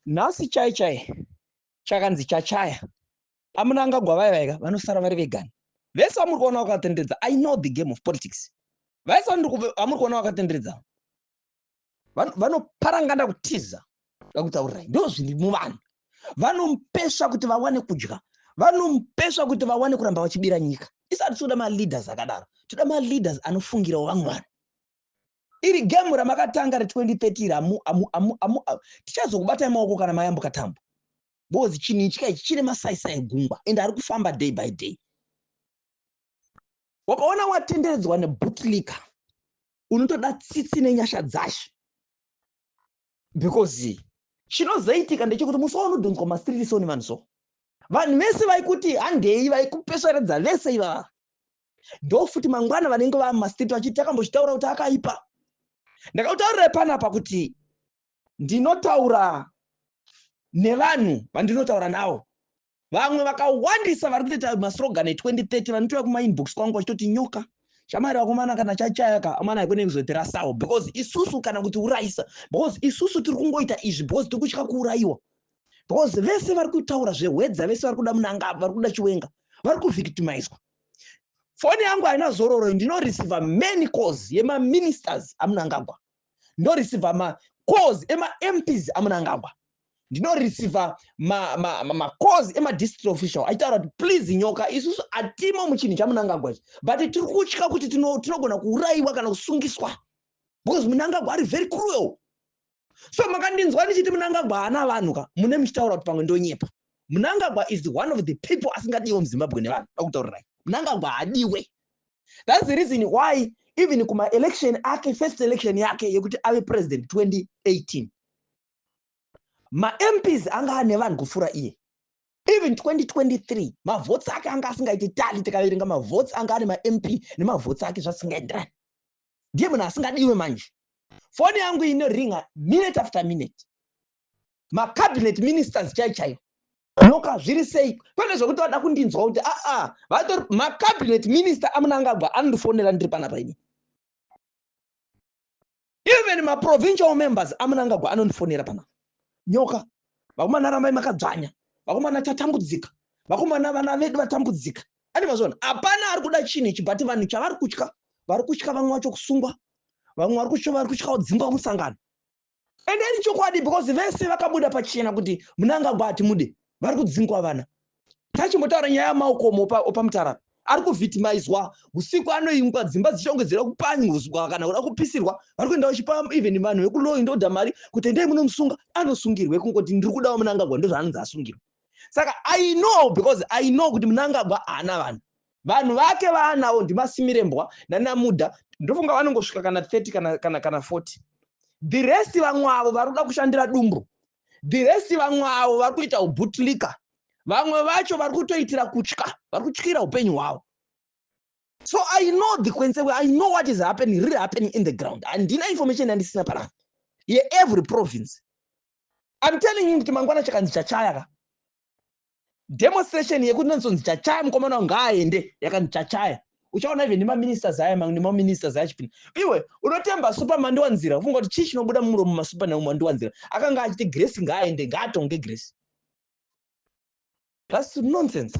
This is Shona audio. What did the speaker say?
nhasi chai chai chakanzi chachaya amuna angagwa vaya vaika vanosara vari vegani vese vamuri kuona vakatenderedza i know the game of politics vaisa amuri kuona vakatenderedza vanoparangana kutiza vakutaurirai ndo zviri muvanhu vanomupesva kuti vawane kudya vanomupesva kuti vawane kuramba vachibira nyika isati toda maleaders akadaro toda maleaders anofungirawo vamwe vanhu iri gemu ramakatanga re2030 tichazokubatai maoko kana mayambuka tambo because chinhu ichika ichi chine masaisai gungwa and ari kufamba day by day wakaona watenderedzwa nebutliker unotoda tsitsi nenyasha dzashe because chinozoitika ndechekuti musi waunodhonzwa masiririsoni vanhu so vanhu vese vaikuti handei vaikupesveredza vese ivava ndofuti mangwana vanenge vava mumastreet vachiti takambochitaura kuti akaipa ndakakutaurira panapa kuti ndinotaura nevanhu vandinotaura navo Vamwe vakawandisa vari kutoita maslogan e 2030 vanotouya kuma inbox kwangu vachitoti nyoka shamwari vakomana kana chachaya ka amana haikone kuzotirasawo because isusu kana kuti urayisa because isusu tiri kungoita izvi because tiri kutya kuurayiwa because vese vari kutaura zvehwedza vese vari kuda munangava vari kuda chiwenga vari kuvictimizwa foni yangu haina zororo ndinoreceiva many calls yemaministers amunangagwa ndoreceiver ma calls ema mps amunangagwa ndinoreceiver ma, ma, ma, ma calls ema district official achitaura kuti please nyoka isusu atimo muchinhu chamunangagwa ichi but tiri kutya kuti tinogona kuurayiwa kana kusungiswa because munangagwa ari very cruel so makandinzwa ndichiti munangagwa haana vanhu ka mune muchitaura kuti pamwe ndonyepa munangagwa is one of the people asingadiwe muzimbabwe nevanhu akutaurirai munangagwa haadiwe That's the reason why even kuma election ake first election yake yekuti ave president 2018 ma MPs anga ane vanhu kufura iye even 2023 mavhotsi ake anga asingaiti tali tikaverenga mavhotsi anga ane mamp nemavhotsi ake zvasingaenderani ndiye munhu asingadiwe manje foni yangu inoringa minute after minute macabinet ministers chai chaiyo Noka zviri sei pane zvekuti vada kundinzwa kuti aa vatori macabinet minister amunangagwa anondifonera ndiri panapa ini even maprovincial members amunangagwa anondifonera panapa nyoka vakomana rambai makadzvanya vakomana tatambudzika vakomana vana vedu vatambudzika ane mazvona hapana ari kuda chinhu ichi but vanhu chavari kutya vari kutya vamwe vacho kusungwa vamwe vari kutya vari kutyawo dzingwa musangano and then chokwadi because vese vakabuda pachena kuti munangagwa hatimude vari kudzingwa vana tachimbotaura nyaya yamaokomo opamutarara ari kuvhitimaizwa usiku anoimbwa dzimba dzichongedzera kupanyuzwa kana kuda kupisirwa vari kuenda vachipa even vanhu vekuloyi ndoda mari kuti endai munomusunga anosungirwe kungoti ndiri kudawo munangagwa ndozvaanonzi asungirwa saka i know because i know kuti munangagwa haana vanhu Vanhu vake vaanawo ndiMasimirembwa nanaMuda ndofunga vanongosvika kana 30 kana, kana, kana 40 the rest vamwe avo vari kuda kushandira dumbu the rest vamwe avo vari kuita ubutlika vamwe vacho vari kutoitira kutya vari kutyira upenyu hwavo so i know the consequence i know what is happening really happening in the ground handina information yandisina panapa yeevery province i'm telling you kuti mangwana chakanzi chachaya ka demonstration yekuti nonzonzi chachaya mukomana wangu ngaaende yakanzi chachaya uchaona even nemaministers aya mamwe nemaministers aya achipinda iwe unotemba super mandiwanzira ufunga kuti chii chinobuda mumuromo masuper nau mandiwanzira akanga achiti grace ngaaende ngaatonge grace thats nonsense